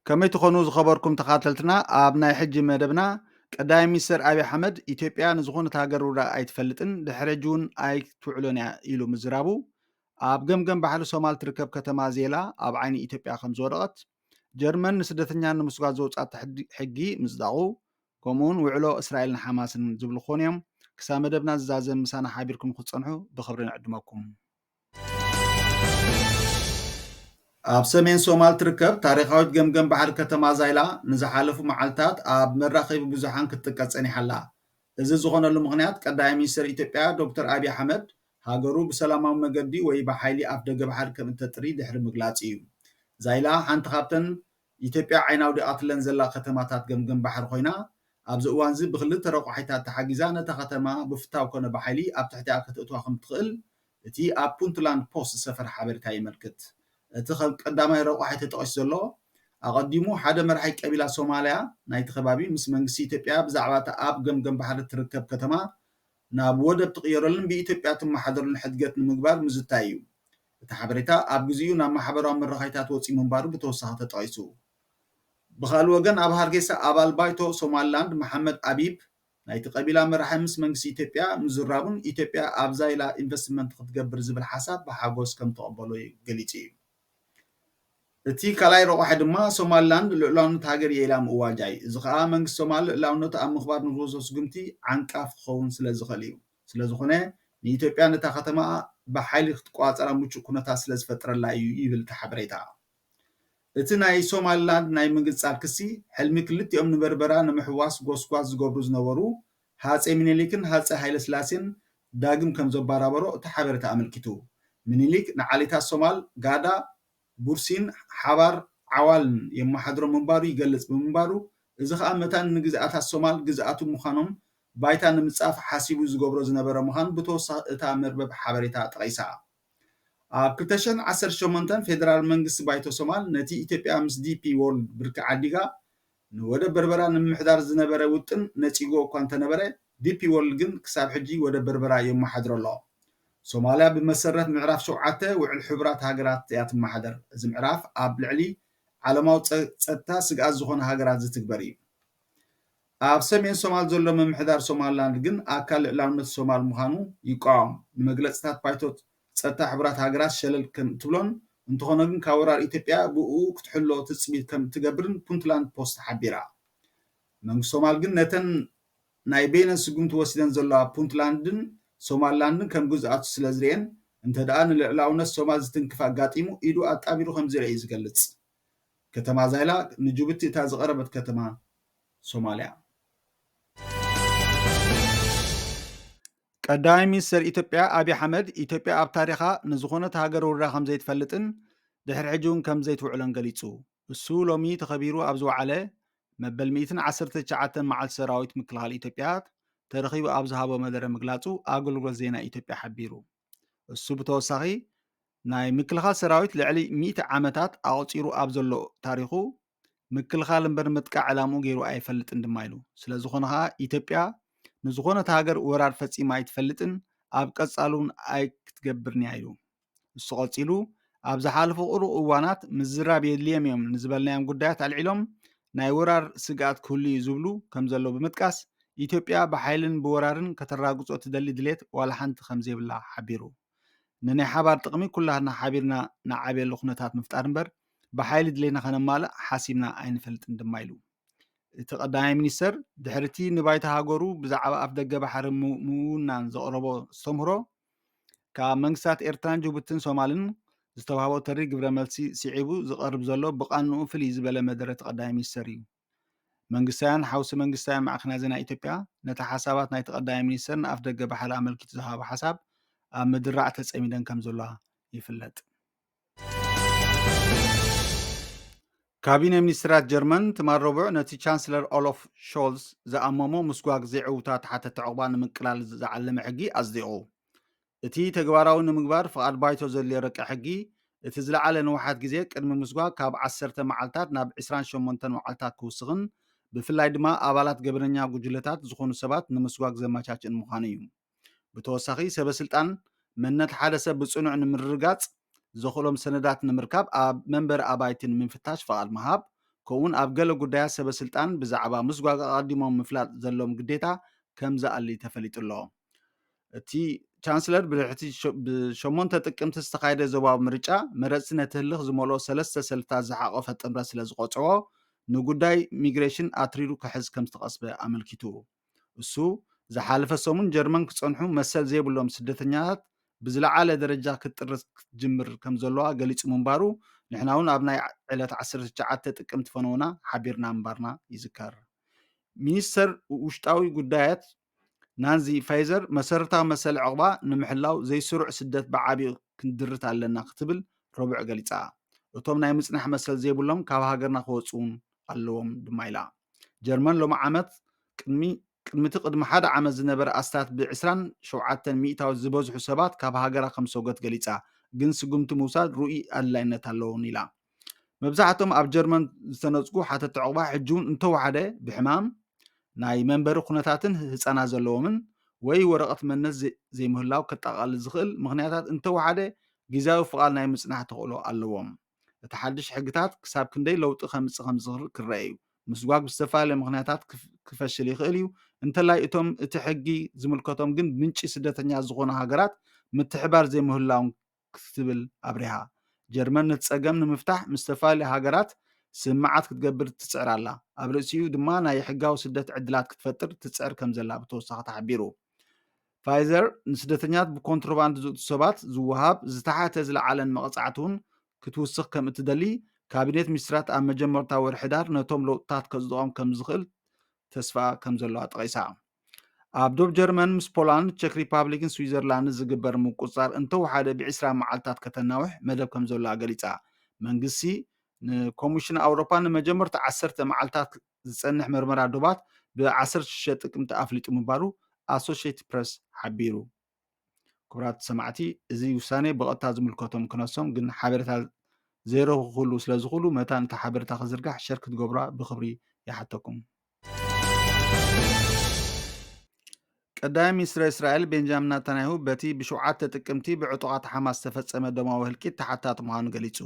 ከመይ ትኾኑ ዝኸበርኩም ተኻተልትና ኣብ ናይ ሕጂ መደብና ቀዳማይ ሚኒስትር ኣብዪ ኣሕመድ ኢትዮጵያ ንዝኾነት ሃገር ውራ ኣይትፈልጥን ድሕሪ ሕጂ እውን ኣይትውዕሎን እያ ኢሉ ምዝራቡ ኣብ ገምገም ባሕሪ ሶማል ትርከብ ከተማ ዜላ ኣብ ዓይኒ ኢትዮጵያ ከም ዝወደቐት ጀርመን ንስደተኛ ንምስጓድ ዘውጽኣቶ ሕጊ ምጽዳቑ፣ ከምኡውን ውዕሎ እስራኤልን ሓማስን ዝብሉ ክኾኑ እዮም። ክሳብ መደብና ዝዛዘም ምሳና ሓቢርኩም ክትጸንሑ ብኽብሪ ንዕድመኩም። ኣብ ሰሜን ሶማል ትርከብ ታሪኻዊት ገምገም ባሕሪ ከተማ ዛይላ ንዝሓለፉ መዓልታት ኣብ መራኸቢ ብዙሓን ክትጥቀስ ጸኒሓ ኣላ። እዚ ዝኾነሉ ምኽንያት ቀዳማይ ሚኒስተር ኢትዮጵያ ዶክተር ኣብዪ ኣሕመድ ሃገሩ ብሰላማዊ መገዲ ወይ ብሓይሊ ኣፍደገ ባሕሪ ከም እተጥሪ ድሕሪ ምግላጹ እዩ። ዛይላ ሓንቲ ካብተን ኢትዮጵያ ዓይና ኣውዲቓትለን ዘላ ከተማታት ገምገም ባሕሪ ኮይና፣ ኣብዚ እዋንዚ ብኽልተ ረቋሒታት ተሓጊዛ ነታ ከተማ ብፍታው ኮነ ብሓይሊ ኣብ ትሕቲኣ ከተእትዋ ከም እትኽእል እቲ ኣብ ፑንትላንድ ፖስት ዝሰፈረ ሓበሬታ የመልክት። እቲ ከም ቀዳማይ ረቋሒ ተጠቒሱ ዘሎ፣ ኣቐዲሙ ሓደ መራሒ ቀቢላ ሶማልያ ናይቲ ከባቢ ምስ መንግስቲ ኢትዮጵያ ብዛዕባ እታ ኣብ ገምገም ባሕሪ እትርከብ ከተማ ናብ ወደብ ትቕየረሉን ብኢትዮጵያ ትመሓደረሉን ሕድገት ንምግባር ምዝታይ እዩ። እቲ ሓበሬታ ኣብ ግዜኡ ናብ ማሕበራዊ መራኸይታት ወጺኡ ምንባሩ ብተወሳኺ ተጠቒሱ። ብኻልእ ወገን ኣብ ሃርጌሳ ኣባል ባይቶ ሶማሊላንድ መሓመድ ኣቢብ ናይቲ ቀቢላ መራሒ ምስ መንግስቲ ኢትዮጵያ ምዝራቡን ኢትዮጵያ ኣብ ዛይላ ኢንቨስትመንት ክትገብር ዝብል ሓሳብ ብሓጎስ ከምተቐበሎ ገሊጹ እዩ። እቲ ካልኣይ ረቋሒ ድማ ሶማሊላንድ ልኡላውነት ሃገር እየ ኢላ ምእዋጃ እዩ። እዚ ከኣ መንግስቲ ሶማል ልኡላውነቱ ኣብ ምኽባር ንዝወስዶ ስጉምቲ ዓንቃፊ ክኸውን ስለዝኽእል እዩ። ስለዝኾነ ንኢትዮጵያ ነታ ከተማ ብሓይሊ ክትቆጻጸራ ምቹእ ኩነታት ስለዝፈጥረላ እዩ ይብል እቲ ሓበሬታ። እቲ ናይ ሶማሊላንድ ናይ ምንግጻል ክሲ ሕልሚ ክልቲኦም ንበርበራ ንምሕዋስ ጎስጓስ ዝገብሩ ዝነበሩ ሃጸይ ሚኒሊክን ሃጸይ ሃይለስላሴን ዳግም ከም ዘባራበሮ እቲ ሓበሬታ ኣመልኪቱ። ሚኒሊክ ንዓሌታት ሶማል፣ ጋዳ፣ ቡርሲን ሓባር ዓዋልን የመሓድሮም ምንባሩ ይገልጽ ብምንባሩ፣ እዚ ከኣ መታን ንግዝኣታት ሶማል ግዝኣቱ ምዃኖም ባይታ ንምጻፍ ሓሲቡ ዝገብሮ ዝነበረ ምዃኑ ብተወሳኺ እታ መርበብ ሓበሬታ ጠቒሳ። ኣብ ክልተ ሽሕን ዓሰርተ ሸሞንተን ፌደራል መንግስቲ ባይቶ ሶማል ነቲ ኢትዮጵያ ምስ ዲፒ ዎርልድ ብርኪ ዓዲጋ ንወደብ በርበራ ንምምሕዳር ዝነበረ ውጥን ነጺግዎ እኳ እንተነበረ፣ ዲፒ ዎርልድ ግን ክሳብ ሕጂ ወደብ በርበራ የመሓድሮ ኣሎ። ሶማልያ ብመሰረት ምዕራፍ ሸውዓተ ውዕል ሕቡራት ሃገራት እያ ትመሓደር። እዚ ምዕራፍ ኣብ ልዕሊ ዓለማዊ ጸጥታ ስግኣት ዝኾና ሃገራት ዝትግበር እዩ። ኣብ ሰሜን ሶማል ዘሎ ምምሕዳር ሶማልላንድ ግን ኣካል ልእላውነት ሶማል ምዃኑ ይቋወም። ንመግለጽታት ፓይቶት ጸጥታ ሕቡራት ሃገራት ሸለል ከም እትብሎን እንተኾነ ግን ካብ ወራር ኢትዮጵያ ብእኡ ክትሕሎ ትጽቢት ከም እትገብርን ፑንትላንድ ፖስት ሓቢራ። መንግስቲ ሶማል ግን ነተን ናይ በይነን ስጉምቲ ወሲደን ዘለዋ ፑንትላንድን ሶማልላንድን ከም ግዝኣቱ ስለ ዝርእየን እንተድኣ ንልዕላውነት ሶማል ዝትንክፍ ኣጋጢሙ ኢዱ ኣጣቢሩ ከም ዝርኣ እዩ ዝገልጽ። ከተማ ዛይላ ንጁቡቲ እታ ዝቐረበት ከተማ ሶማልያ። ቀዳማይ ሚኒስተር ኢትዮጵያ ኣብዪ ኣሕመድ ኢትዮጵያ ኣብ ታሪኻ ንዝኾነት ሃገር ውሪራ ከምዘይትፈልጥን ድሕሪ ሕጂ እውን ከምዘይትውዕሎን ገሊጹ። እሱ ሎሚ ተኸቢሩ ኣብ ዝወዓለ መበል ሚእትን ዓሰርተ ትሽዓተን መዓልቲ ሰራዊት ምክልኻል ኢትዮጵያ ተረኺቡ ኣብ ዝሃቦ መደረ ምግላጹ ኣገልግሎት ዜና ኢትዮጵያ ሓቢሩ። እሱ ብተወሳኺ ናይ ምክልኻል ሰራዊት ልዕሊ ሚእቲ ዓመታት ኣቑጺሩ ኣብ ዘሎ ታሪኹ ምክልኻል እምበር ምጥቃዕ ዕላምኡ ገይሩ ኣይፈልጥን ድማ ኢሉ። ስለዝኾነ ከኣ ኢትዮጵያ ንዝኾነት ሃገር ወራር ፈጺማ ኣይትፈልጥን፣ ኣብ ቀጻሊ'ውን ኣይክትገብርን'ያ ኢሉ። ንሱ ቀጺሉ፣ ኣብ ዝሓለፉ ቅሩብ እዋናት ምዝራብ የድልዮም'ዮም ንዝበልናዮም ጉዳያት ኣልዒሎም ናይ ወራር ስግኣት ክህሉ'ዩ ዝብሉ ከምዘለዉ ብምጥቃስ፣ ኢትዮጵያ ብሓይልን ብወራርን ከተራግጾ እትደሊ ድሌት ዋላ ሓንቲ ከምዘይብላ ሓቢሩ። ንናይ ሓባር ጥቕሚ ኩላትና ሓቢርና ንዓብየሉ ኩነታት ምፍጣር እምበር ብሓይሊ ድሌትና ከነማልእ ሓሲብና ኣይንፈልጥን ድማ ኢሉ። እቲ ቀዳማይ ሚኒስተር ድሕሪቲ ንባይቶ ሃገሩ ብዛዕባ ኣፍደገ ባሕሪ ምውናን ዘቕረቦ ኣስተምህሮ ካብ መንግስታት ኤርትራን ጅቡትን ሶማልን ዝተዋህቦ ተሪር ግብረ መልሲ ስዒቡ ዝቐርብ ዘሎ ብቓንኡ ፍልይ ዝበለ መደረ እቲ ቀዳማይ ሚኒስተር እዩ። መንግስታውያን ሓውሲ መንግስታውያን ማዕከናት ዜና ኢትዮጵያ ነቲ ሓሳባት ናይቲ ቀዳማይ ሚኒስተር ንኣፍደገ ባሕሪ ኣመልኪቱ ዝሃቦ ሓሳብ ኣብ ምድራዕ ተጸሚደን ከምዘለዋ ይፍለጥ። ካቢነ ሚኒስትራት ጀርመን ትማል ረቡዕ ነቲ ቻንስለር ኦሎፍ ሾልስ ዝኣመሞ ምስጓግ ዘይዕውታት ሓተቲ ዕቑባ ንምቅላል ዝዓለመ ሕጊ ኣጽዲቑ። እቲ ተግባራዊ ንምግባር ፍቓድ ባይቶ ዘድልዮ ረቂቕ ሕጊ፣ እቲ ዝለዓለ ንውሓት ግዜ ቅድሚ ምስጓግ ካብ ዓሰርተ መዓልታት ናብ ዕስራን ሸሞንተን መዓልታት ክውስኽን ብፍላይ ድማ ኣባላት ገበነኛ ጉጅለታት ዝኾኑ ሰባት ንምስጓግ ዘመቻችእን ምዃኑ እዩ። ብተወሳኺ ሰበስልጣን መንነት ሓደ ሰብ ብጽኑዕ ንምርግጋጽ ዘኽእሎም ሰነዳት ንምርካብ ኣብ መንበሪ ኣባይቲ ንምፍታሽ ፍቓድ ምሃብ ከምኡውን ኣብ ገለ ጉዳያት ሰበስልጣን ብዛዕባ ምስጓግ ኣቐዲሞም ምፍላጥ ዘለዎም ግዴታ ከምዝኣሊ ተፈሊጡ ኣሎ። እቲ ቻንስለር ብድሕቲ ብሸሞንተ ጥቅምቲ ዝተኻየደ ዞባዊ ምርጫ መረፅቲ ነቲ ህልኽ ዝመልኦ ሰለስተ ሰልፍታት ዝሓቖፈ ጥምረት ስለ ዝቖፀዎ ንጉዳይ ሚግሬሽን ኣትሪሩ ክሕዝ ከም ዝተቐስበ ኣመልኪቱ እሱ ዝሓለፈ ሰሙን ጀርመን ክፀንሑ መሰል ዘይብሎም ስደተኛታት ብዝለዓለ ደረጃ ክትጥርስ ክትጅምር ከም ዘለዋ ገሊጹ ምንባሩ ንሕና እውን ኣብ ናይ ዕለት 19 ጥቅምቲ ፈነውና ሓቢርና ምንባርና ይዝከር ሚኒስተር ውሽጣዊ ጉዳያት ናንዚ ፋይዘር መሰረታዊ መሰል ዕቕባ ንምሕላው ዘይስሩዕ ስደት ብዓቢኡ ክንድርት ኣለና ክትብል ረቡዕ ገሊጻ። እቶም ናይ ምጽናሕ መሰል ዘይብሎም ካብ ሃገርና ክወጽኡን ኣለዎም ድማ ኢላ። ጀርመን ሎሚ ዓመት ቅድሚ ቅድሚቲ ቅድሚ ሓደ ዓመት ዝነበረ ኣስታት ብ ዕስራን ሸውዓተን ሚኢታዊት ዝበዝሑ ሰባት ካብ ሃገራ ከምዝሰጎት ገሊጻ ግን ስጉምቲ ምውሳድ ርኡይ ኣድላይነት ኣለዎን ኢላ። መብዛሕቶም ኣብ ጀርመን ዝተነጽጉ ሓተቲ ዑቕባ ሕጂውን እንተወሓደ ብሕማም፣ ናይ መንበሪ ኩነታትን ህጻናት ዘለዎምን ወይ ወረቐት መንነት ዘይምህላው ከጠቓልል ዝኽእል ምኽንያታት እንተወሓደ ግዝያዊ ፍቓድ ናይ ምጽናሕ ተኽእሎ ኣለዎም። እቲ ሓድሽ ሕግታት ክሳብ ክንደይ ለውጢ ከምጽእ ከምዝኽል ክረኣ እዩ። ምስጓግ ብዝተፈላለየ ምኽንያታት ክፈሽል ይኽእል እዩ፣ እንተላይ እቶም እቲ ሕጊ ዝምልከቶም ግን ምንጪ ስደተኛ ዝኾኑ ሃገራት ምትሕብባር ዘይምህላዎም ክትብል ኣብሪሃ። ጀርመን ነቲ ጸገም ንምፍታሕ ምስ ዝተፈላለያ ሃገራት ስምምዓት ክትገብር ትጽዕር ኣላ፣ ኣብ ርእሲኡ ድማ ናይ ሕጋዊ ስደት ዕድላት ክትፈጥር ትጽዕር ከምዘላ ብተወሳኺ ተሓቢሩ። ፋይዘር ንስደተኛታት ብኮንትሮባንድ ዝእቱ ሰባት ዝወሃብ ዝተሓተ ዝለዓለን መቐጻዕቲ'ውን ክትውስኽ ከም እትደሊ ካቢኔት ሚኒስትራት ኣብ መጀመርታ ወርሒ ሕዳር ነቶም ለውጥታት ከጽድቖም ከምዝኽእል ተስፋ ከምዘለዋ ጠቒሳ። ኣብ ዶብ ጀርመን ምስ ፖላንድ፣ ቸክ ሪፓብሊክን ስዊዘርላንድን ዝግበር ምቁጽጻር እንተወሓደ ብዒስራ መዓልታት ከተናውሕ መደብ ከምዘሎኣ ገሊጻ። መንግስቲ ንኮምሽን ኣውሮፓ ንመጀመርታ ዓሰርተ መዓልታት ዝጸንሕ መርመራ ዶባት ብ ዓሰርተ ሽዱሽተ ጥቅምቲ ኣፍሊጡ ምባሉ ኣሶሸይትድ ፕረስ ሓቢሩ። ክቡራት ሰማዕቲ እዚ ውሳኔ ብቐጥታ ዝምልከቶም ክነሶም ግን ሓበሬታ ዘይረኽብኩሉ ስለ ዝኽሉ መታን እቲ ሓበሬታ ክዝርጋሕ ሸር ክትገብሩዋ ብክብሪ ይሓተኩም። ቀዳማይ ሚኒስትር እስራኤል ቤንጃሚን ናታንያሁ በቲ ብሸውዓተ ጥቅምቲ ብዕጡቓት ሓማስ ዝተፈጸመ ደማዊ ህልቂት ተሓታቲ ምዃኑ ገሊጹ።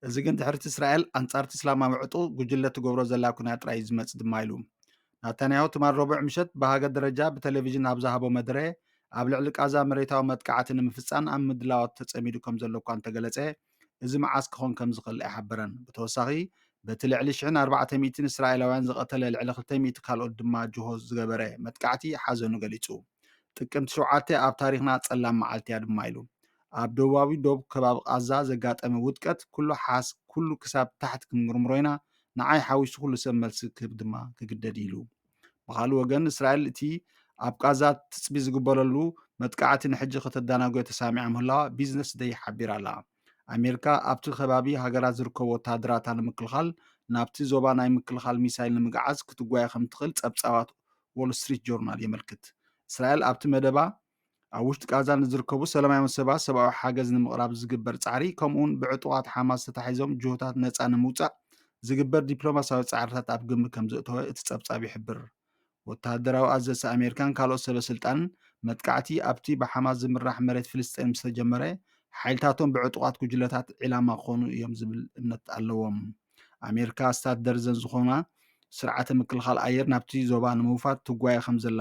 እዚ ግን ድሕርቲ እስራኤል ኣንጻርቲ እስላማዊ ዕጡቕ ጉጅለ ትገብሮ ዘላ ኩናት ጥራይ እዩ ዝመጽእ ድማ ኢሉ። ናታንያሁ ትማል ረቡዕ ምሸት ብሃገር ደረጃ ብተሌቪዥን ኣብ ዝሃቦ መደረ፣ ኣብ ልዕሊ ቃዛ መሬታዊ መጥቃዕቲ ንምፍጻን ኣብ ምድላዋት ተጸሚዱ ከምዘሎ እኳ እንተገለጸ፣ እዚ መዓስ ክኾን ከምዝኽእል ኣይሓበረን። ብተወሳኺ፣ በቲ ልዕሊ ሽሕን ኣርባዕተ ሚእቲን እስራኤላውያን ዝቐተለ ልዕሊ ክልተ ሚእቲ ካልኦት ድማ ጅሆ ዝገበረ መጥቃዕቲ ሓዘኑ ገሊጹ። ጥቅምቲ ሸውዓተ ኣብ ታሪኽና ጸላም መዓልቲ'ያ ድማ ኢሉ። ኣብ ደቡባዊ ዶብ ከባቢ ቃዛ ዘጋጠመ ውድቀት ኩሉ ሓስ ኩሉ ክሳብ ታሕቲ ክንምርምሮ ኢና፣ ንዓይ ሓዊሱ ኩሉ ሰብ መልሲ ክህብ ድማ ክግደድ ኢሉ። ብኻልእ ወገን እስራኤል እቲ ኣብ ቃዛ ትጽቢ ዝግበረሉ መጥቃዕቲ ንሕጂ ከተዳናጎዮ ተሳሚዓ ምህላዋ ቢዝነስ ደይ ሓቢራ'ላ። ኣሜርካ ኣብቲ ከባቢ ሃገራት ዝርከቡ ወተሃደራታ ንምክልኻል ናብቲ ዞባ ናይ ምክልኻል ሚሳይል ንምግዓዝ ክትጓየ ከምትኽእል ጸብጻባት ዎል ስትሪት ጆርናል የመልክት። እስራኤል ኣብቲ መደባ ኣብ ውሽጢ ቃዛ ንዝርከቡ ሰላማውያን ሰባት ሰብኣዊ ሓገዝ ንምቕራብ ዝግበር ጻዕሪ ከምኡውን ብዕጡቓት ሓማስ ተታሒዞም ጅሆታት ነፃ ንምውፃእ ዝግበር ዲፕሎማሲያዊ ጻዕርታት ኣብ ግምት ከም ዘእተወ እቲ ጸብጻብ ይሕብር ወተሃደራዊ ኣዘዝቲ ኣሜሪካን ካልኦት ሰበ ስልጣንን መጥቃዕቲ ኣብቲ ብሓማስ ዝምራሕ መሬት ፍልስጤን ምስ ተጀመረ ሓይልታቶም ብዕጡቓት ጉጅለታት ዒላማ ክኾኑ እዮም ዝብል እምነት ኣለዎም ኣሜሪካ ስታት ደርዘን ዝኾና ስርዓተ ምክልኻል ኣየር ናብቲ ዞባ ንምውፋር ትጓየ ከም ዘላ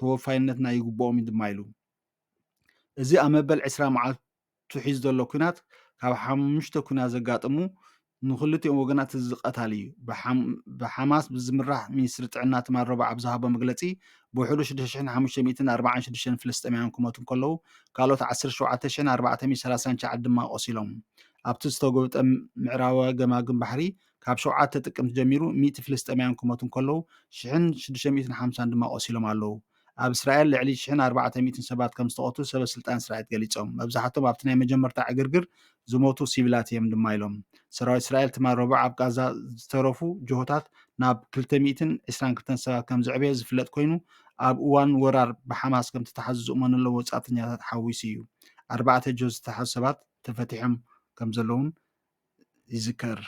ተወፋይነትና ይግብኦም እዩ ድማ ኢሉ። እዚ ኣብ መበል ዕስራ መዓልቱ ሒዙ ዘሎ ኲናት ካብ ሓሙሽተ ኲናት ዘጋጠሙ ንክልቲኦም ወገናት እቲ ዝቐታሊ እዩ። ብሓማስ ብዝምራሕ ሚኒስትሪ ጥዕና ትማል ረቡዕ ኣብ ዝሃቦ መግለጺ ብውሕዱ ሽዱሽተ ሽሕን ሓሙሽተ ሚእትን ኣርባዓን ሽዱሽተን ፍልስጤማውያን ክሞቱ እንከለዉ ካልኦት ዓሰርተ ሸውዓተ ሽሕን ኣርባዕተ ሚእትን ሰላሳን ትሽዓን ድማ ቆሲሎም ኣብቲ ዝተጎብጠ ምዕራባዊ ገማግም ባሕሪ ካብ ሸውዓተ ጥቅምቲ ጀሚሩ ሚእቲ ፍልስጤማውያን ክሞቱ እንከለዉ ሽሕን ሽዱሽተ ሚእትን ሓምሳን ድማ ቆሲሎም ኣለዉ። ኣብ እስራኤል ልዕሊ ሽሕን ኣርባዕተ ሚእትን ሰባት ከም ዝተቐትሉ ሰበስልጣን እስራኤት ገሊጾም። መብዛሕቶም ኣብቲ ናይ መጀመርታ ዕግርግር ዝሞቱ ሲቪላት እዮም ድማ ኢሎም። ሰራዊት እስራኤል ትማል ረቡዕ ኣብ ቃዛ ዝተረፉ ጅሆታት ናብ ክልተ ሚእትን ዕስራን ክልተን ሰባት ከም ዘዕበዮ ዝፍለጥ ኮይኑ ኣብ እዋን ወራር ብሓማስ ከም ዝተታሕዙ ዝእመነሎም ወጻእተኛታት ሓዊሱ እዩ። ኣርባዕተ ጅሆ ዝተታሕዙ ሰባት ተፈቲሖም ከም ዘለዉን ይዝከር።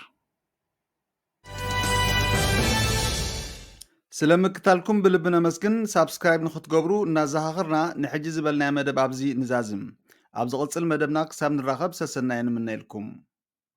ስለ ምክታልኩም ብልቢ ነመስግን። ሳብስክራይብ ንክትገብሩ እናዘኻኽርና ንሕጂ ዝበልናዮ መደብ ኣብዚ ንዛዝም። ኣብ ዝቕጽል መደብና ክሳብ ንራኸብ ሰሰናዩ ንምነየልኩም።